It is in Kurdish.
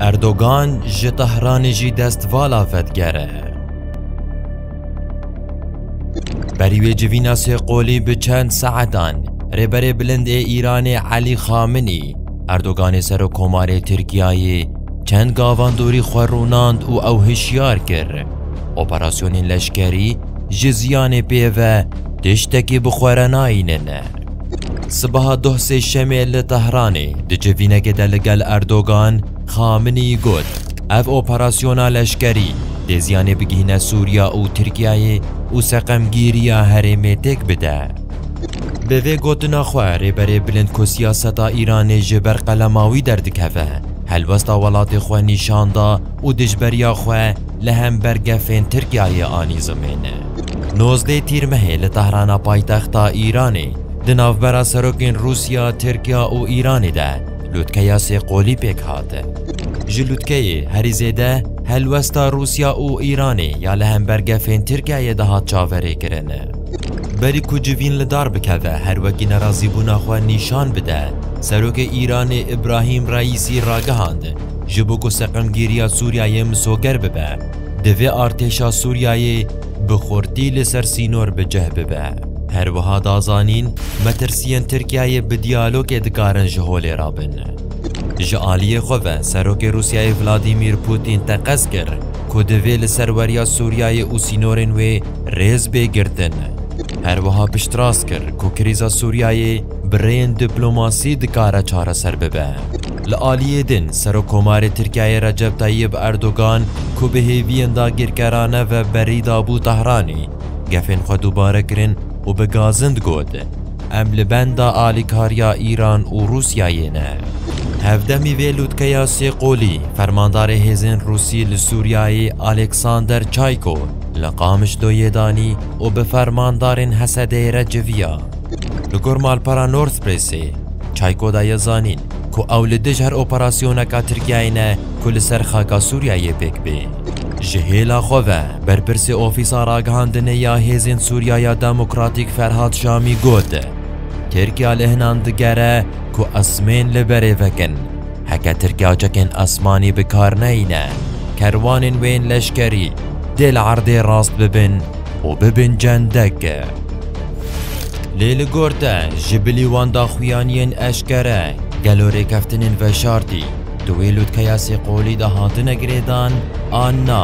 Erdogan ji Tehranê jî dest vala vediger e. Berî wê civîna sê qolî bi çend saetan Rêberê Bilind ê Îranê Elî Xaminî Erdoganê Serokomarê Tirkiyeyê çend gavan dorî xwe rûnand û ew hişyar kir. Operasyonên leşkerî ji ziyanê pê ve tiştekî bi xwe re nayînin. Sibaha doh sêşemê li Tehranê di civînekê de li gel Erdogan, Xaminî got, Ev operasyona leşkerî dê ziyanê bigihîne Sûriya û Tirkiyeyê û seqemgîriya herêmê têk bide. Bi vê gotina xwe rêberê bilind ku siyaseta Îranê ji ber qelema wî derdikeve, helwesta welatê xwe nîşan da û dijberiya xwe, li hember gefên Tirkiyeyê anî zimêne. Nozdeh Tîrmehê li Tehrana paytexta Îranê di navbera serokên Rûsya, Tirkiya û Îranê de lûtkeya sê qolî pêk hat. Ji lûtkeyê herî zêde helwesta Rûsya û Îranê ya li hember gefên Tirkiyeyê de hat çaverêkirin. Berî ku civîn li dar bikeve her wekî nerazîbûna xwe nîşan bide, Serokê Îranê Îbrahîm Reîsî ragihand, Ji bo ku seqemgîriya Sûriyeyê misoger bibe, divê artêşa Sûriyeyê bi xurtî li ser sînor bi cih bibe. Her wiha da zanîn, metirsiyên Tirkiyeyê bi diyalogê dikarin ji holê re bin. Ji aliyê xwe ve Serokê Rûsyayê Vladîmîr Pûtîn teqez kir ku divê li ser weriya Sûriyeyê û sînorên wê rêz bê girtin. Her wiha piştrast kir ku krîza Sûriyeyê bi rêyên diplomasî dikare çareser bibe. Li aliyê din, Serokkomarê Tirkiyeyê Recep Tayyib Erdogan ku bi hêviyên dagirkerane ve berî dabû Tehranê, gefên xwe dubare kirin û bi gazind got, Em li benda alîkariya Îran û Rûsyayê ne. Hevdemî vê lûtkeya sê qolî, Fermandarê Hêzên Rûsî li Sûriyeyê Aleksander Çayko li Qamişloyê danî û bi fermandarên Hesedê re civiya. Li gor malpera North Pressê, Çayko daye zanîn, ku ew li dij her operasyoneka Tirkiyeyê ne ku li ser xaka Sûriyeyê pêk bê. Ji hêla xwe ve berpirsê Ofîsa Ragihandinê ya Hêzên Sûriya ya Demokratîk Ferhat Şamî got, Tirkiya li hinan digere ku esmên li berê vekin. Heke Tirkiya çekên esmanî bi kar neyîne, kerwanên wê yên leşkerî dê li erdê rast bibin û bibin cendek. Lê li gor te ji bilî wan daxuyaniyên eşkere gelo rêkeftinên veşartî di wê lûtkeya sêqolî de hatine girêdan an na?